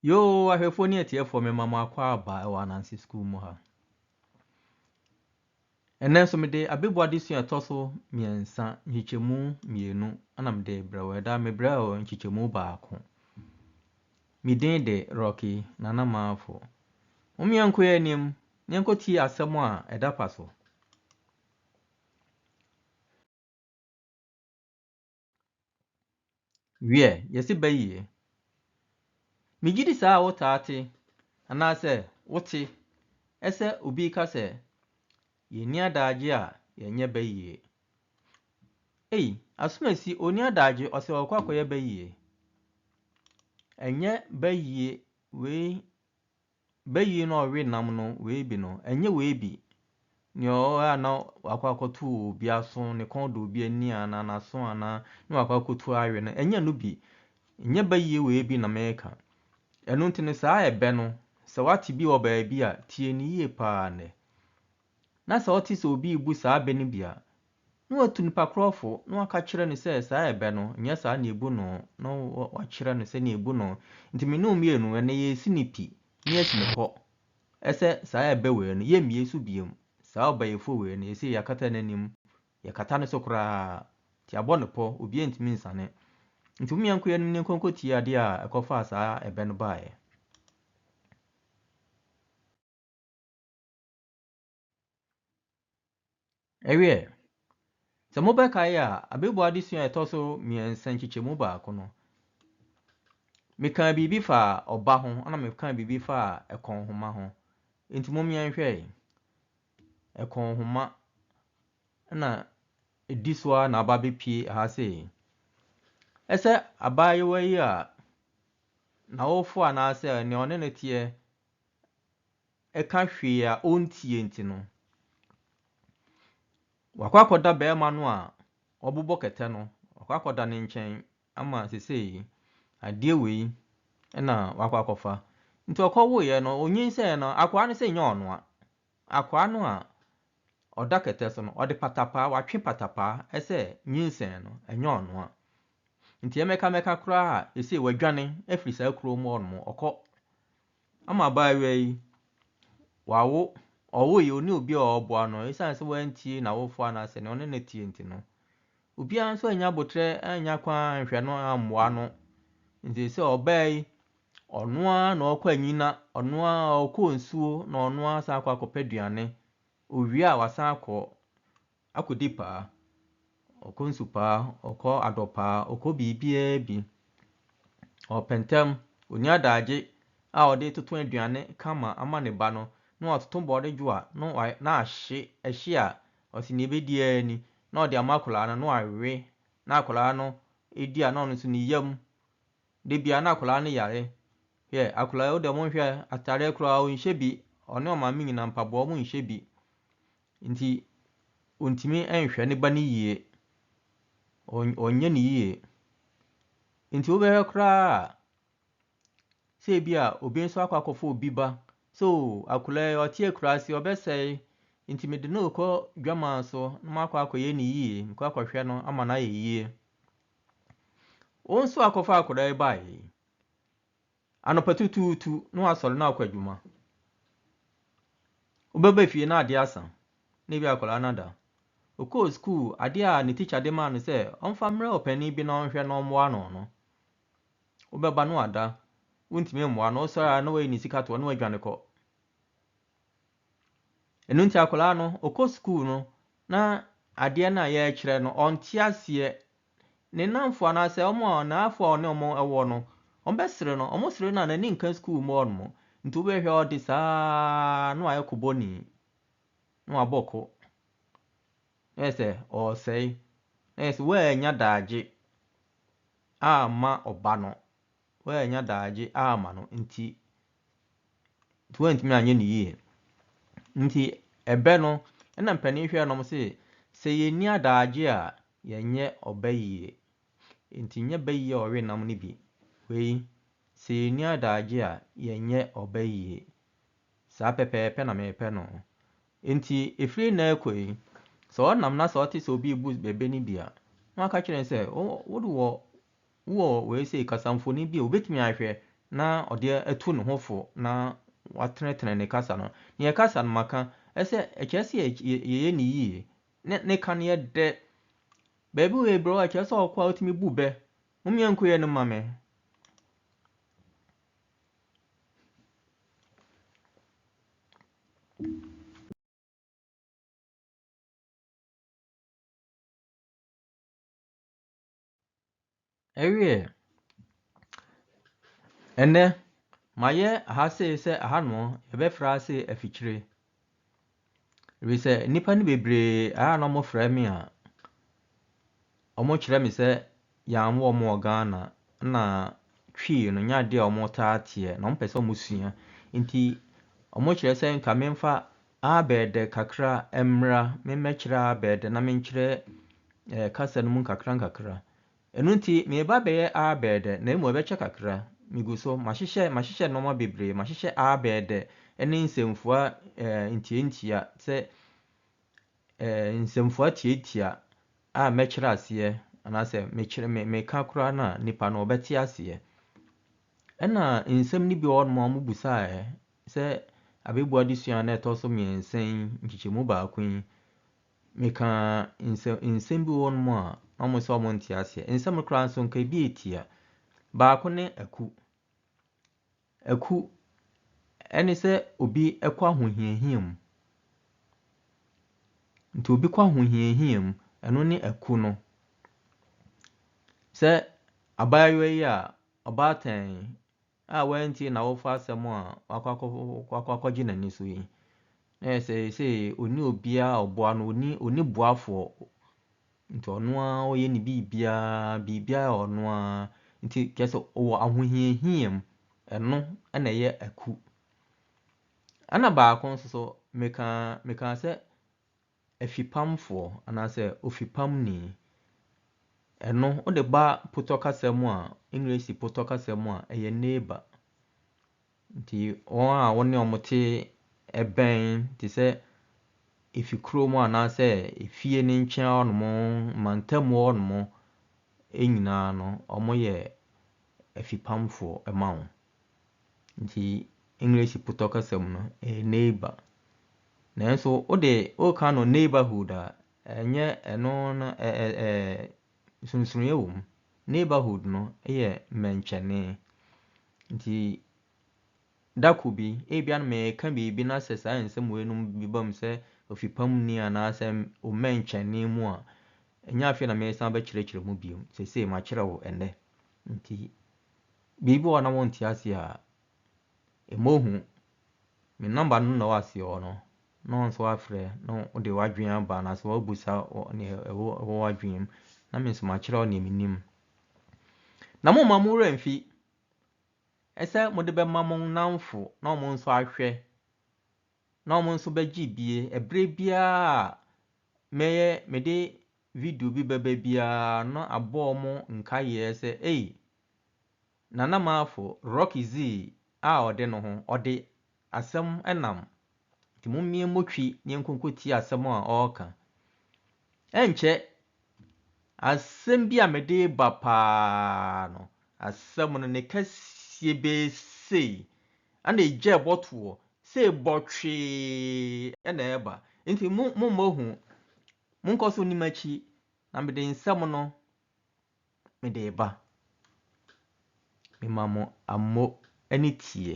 Yoo ahwɛfoɔ ne atiefoɔ mema mo akwaaba wɔ Ananse Sukuu mu ha. Ɛnnɛ nso mede abɛbu adesua ɛtɔ so mmiɛnsa, nkyekyɛmu mmienu ɛna mede brɛ wo. Ɛda mebrɛ wo nkyekyɛmu baako. Me din de Rocky Nana Maafo. Mo mmiɛnko yɛ anim na yɛnkɔtie asɛm a ɛda pa so. Wiɛ, yɛse bayie. Megyedi saa wotaa te anaasɛ wote ɛsɛ obi reka sɛ yɛnni adaagye a yɛnyɛ bayie. Ei, Asomasi ɔnni adaagye ɔsɛ ɔkɔ akɔyɛ bayie. Ɛnyɛ bayie wei Bayi no a ɔwe nam no, weebi no, ɛnyɛ weebi, nea ɔwe a na wakɔ akɔto wɔ obi aso, ne kɔn da obi ani anaa n'aso anaa ne wakɔ akɔtu awe no, ɛnyɛ ɛno bi. Nyɛ bayie weebi na mereka. Ɛno nti no, saa ɛbɛ no, sɛ woate bi wɔ baabi a, tie no yie paa nnɛ. Na sɛ wote sɛ obi rebu saa bɛ no bi a, na watu nipa korɔ fo, na waka akyerɛ no sɛ saa ɛbɛ no, nyɛ saa na ɛbu no, na wakyerɛ no sɛdeɛ ɛbu no, nti me ne wo mmienu, ɛnnɛ yɛresi no pi, na yɛasi no kɔ, ɛsɛ saa ɛbɛ wei no, yɛmmie so bio, saa ɔbaeɛfoɔ wei no, seesei yɛakata n'anim, yɛkata ne so koraa, nti abɔ no pɔ, obiara ntumi nsane. Nti momma yɛnkɔ yɛn anim na yɛnkɔ nkɔtie adeɛ a ɛkɔfaa saa ɛbɛ no baeɛ. Ɛwiɛ, sɛ mobɛkae a, abɛbuo adesua a ɛtɔ so mmiɛnsa nkyekyɛmu baako no, mekaa biribi faa ɔba ho ɛna mekaa biribi faa ɛkɔnhoma ho. Nti mom yɛnhwɛ ɛkɔnhoma ɛna ɛdi so ara na aba abɛpue ha sei. Ɛsɛ abaayewa yi a n'awofoɔ anaasɛ nea ɔne no teɛ ɛka hwee a ɔntie nti no, wakɔ akɔda barima no a wabobɔ kɛtɛ no, wakɔ akɔda ne nkyɛn ama sesei adeɛ wei na wakɔ akɔfa. Nti ɔkɔwoeɛ no, ɔnyinsɛn no, akoa no sɛ nyɛ ɔno a, akoa no a ɔda kɛtɛ so no, ɔde patapaa, watwe patapaa sɛ nyinsɛn no, ɛnyɛ ɔno a. Nti ɛmɛka mɛka koraa a, sesei wadwane afiri saa kurom hɔ nom, ɔkɔ Ama abaayewa yi, wawo, ɔwoe yi, ɔne obi a ɔboa no ɛsiane sɛ wantie n'awofoɔ anaasɛ nea ɔne no teɛ nti no. Obiara nso annya abotrɛ, annya kwan anhwɛ no, ammoa no. Nti sɛ ɔbaa yi, ɔno ara na ɔkɔ anyina, ɔno ara ɔkɔ nsuo na ɔno ara san akɔ akɔpɛ aduane. Ɔwie a wasan akɔ. Akodi paa, ɔkɔ nsu paa, ɔkɔ adɔ paa, ɔkɔ biribiara bi. Ɔpɛ ntɛm, ɔnni adagye a ɔde toto aduane kama ama ne ba no, na watoto bɔɔde dwo a na wa na ahye, ɛhye a, ɔse deɛ ɛbɛdi ara ni, na ɔde ama akwadaa no, na wawe, na akwadaa no di a na ɔno nso ne yam. Da biara na akwadaa no yare. Hwɛ, akwadaa yi wo deɛ monhwɛ, atadeɛ koraa ɔnhyɛ bi, ɔne ɔmaame nyinaa mpaboa wɔnhyɛ bi. Enti ɔntumi nhwɛ ne ba no yie. Ɔnyɛ no yie. Enti wobɛhwɛ koraa a, sɛ ebi a obi nso akɔ akɔfa obi ba sɛ o akwadaa yi ɔte akuraase ɔbɛsɛe nti mede no rekɔ dwamaa so na makɔ akɔyɛ no yie mekɔ akɔhwɛ no ama no ayɛ yie. Wo nso akɔfa akwadaa yi baeɛ yi Anɔpa tutuutu na wasɔre na akɔ adwuma. Wobɛba fie na adeɛ asa, na ebi akwadaa no ada. Ɔkɔɔ sukuu, adeɛ a ne tikya de maa no sɛ ɔmfa mmerɛ ɔpanin bi na ɔnhwɛ na ɔmmoa no no, wobɛba na wada, wontumi mmoa no, wosɔre a na wayi ne sika toɔ na wadwane kɔ. Ɛno nti akwadaa no, ɔkɔ sukuu no na adeɛ no a yɛrekyerɛ no, ɔnte aseɛ Ne nnamfo anaasɛ wɔn a n'afoa a ɔne wɔn wɔ no, wɔbɛsere no. Wɔsere no a, n'ani nka sukuu mu hɔnom. Nti wobɛhwɛ a ɔde saa ara na wayɛ kobɔni, na wabɔ ko. Na yɛ sɛ ɔresɛe, na yɛ sɛ wannya daagye amma ɔba no. Woannya daagye amma no nti, nti woantumi anyɛ no yie. Nti ɛbɛ no, ɛna mpanin hwɛɛ nom se, sɛ yɛnni adaagye a, yɛnyɛ ɔbɛ yie. Nti nyɛ bɛ yie a ɔwe nam no bi. Wei, sɛ yɛnni adaagye a, yɛnyɛ ɔbɛ yie. Saa pɛpɛɛpɛ na mepɛ no. Nti ɛfiri nnɛ rekɔ yi, sɛ ɔnam na sɛ ɔte sɛ obi rebu bɛ bɛ no bi a, na waka kyerɛ no sɛ, wo, wo de wɔ Wowɔ wei sei, kasamfonin bi a obetumi ahwɛ na ɔde atu ne ho fo na watenetene ne kasa no. Nea ɛkasa no maka, ɛsɛ sɛ ɛkyerɛ sɛ yɛyɛ no yiye, na ne ka no yɛ dɛ. Baabi wei brɛ wo a, kyerɛ sɛ ɔkɔ a wotumi bu bɛ. Mommea nku yɛ no mma me. Ɛwieɛ, ɛnɛ mayɛ aha sei sɛ aha nom yɛbɛfrɛ ha sei afikyire. Ɛfiri sɛ nnipa no bebree a na wɔfrɛ me a, wɔkyerɛ me sɛ yɛn wɔ wɔn wɔ Ghana na Twi no nyɛ adeɛ a wɔtaa teɛ na wɔpɛ sɛ wɔsua. Nti wɔkyerɛ sɛ nka memfa. Abɛɛdɛ kakra mmra me mmɛkyerɛ Abɛɛdɛ na menkyerɛ eh, kasa no mu nkakrankakra. Ɛno nti mereba abɛyɛ Abɛɛdɛ na mmom ɛbɛkyɛ kakra. Megu so, mahyehyɛ, mahyehyɛ nnoɔma bebree, mahyehyɛ Abɛɛdɛ ne nsɛmfua eh, ntiantia sɛ eh, nsɛmfua tiatia a mɛkyerɛ aseɛ anaasɛ mekyerɛ, me, meka koraa no a nipa no ɔbɛte aseɛ. Ɛna nsɛm no bi wɔ hɔnom a wɔbusaeɛ sɛ abɛbuo adesua no a ɛtɔ so mmiɛnsa yi nkyekyɛmu baako yi, mekaa nsɛm, nsɛm bi wɔ hɔnom a na wɔn sɛ wɔn nte aseɛ. Nsɛm no koraa nso nka ebi etia. Baako ne aku. Aku ɛne sɛ obi kɔ ahohiahia mu. Nti obi kɔ ahohiahia mu, ɛno ne aku no. Sɛ abaayewa yi a ɔbaatan a wantie n'awofo asɛm a wakɔ akɔgye n'ani so yi, na yɛ sɛ sɛ ɔni obiara ɔboa no, ɔni ɔni boafoɔ. Nti ɔno ara ɔyɛ ne biribiara, biribiara yɛ ɔno ara. Nti kyerɛ sɛ ɔwɔ ahohiahia mu, ɛno na ɛyɛ aku. Ɛna baako nso so, mekaa mekaa sɛ Afipamfoɔ anaasɛ ofipamni. Ɛno wode ba potɔ kasa mu a, English potɔ kasa mu a, ɛyɛ neighbour. Nti wɔn a wo ne wɔn te bɛn te sɛ efikuro mu anaasɛ efie no nkyɛn hɔnom, mantam mu hɔnom nyinaa no, wɔyɛ afipamfoɔ ma wo. Nti English putɔ kasa mu no, ɛyɛ neighbour. Nanso wo de, woka no neighbourhood a, ɛnyɛ ɛno no ɛ ɛ ɛ nsonsonoeɛ wɔ mu. Neighbourhood no yɛ mmɛnkyɛne. Nti da koro bi, ebia na mereka biribi na sɛ saa nsɛm wei nom bi ba mu sɛ ɔfipa mu ni anaasɛ ɔmmɛnkyɛne mu a, ɛnyɛ afei na meresan abɛkyerɛkyerɛ mu bio. Seesei makyerɛ wo ɛnnɛ. Nti. Biribi wɔ hɔ a na wonte ase a, mmɔ hu. Me nɔmba no na ɔwɔ aseɛ hɔ no, na wo nso woafrɛ na wode w'adwene aba anaasɛ woabisa nea ɛwɔ ɛwɔ w'adwene mu, na me nso makyerɛ wo nea menim. Na momma mo werɛ mfi sɛ mode bɛma mo nnamfo na wɔn nso ahwɛ, na wɔn nso bɛgye bie. Ɛberɛ biara a mɛyɛ mede video bi bɛba biara no abɔ wɔn nkaeɛ sɛ ei, Nana Marfo Rocky Zee a ɔde no ho, ɔde asɛm nam, nti mommie mo twi na yɛnkonkotie asɛm a ɔreka. Ɛnkyɛ, asɛm bi a mede reba paa no, asɛm no ne kɛseɛ bɛyɛ sei, ɛna egya ɛbɔ toɔ, sei bɔtwee na ɛreba, nti mo mommɔ hu, monkɔ so nni m'akyi, na mede nsɛm no Mede reba. Mema mo ammo ne tie.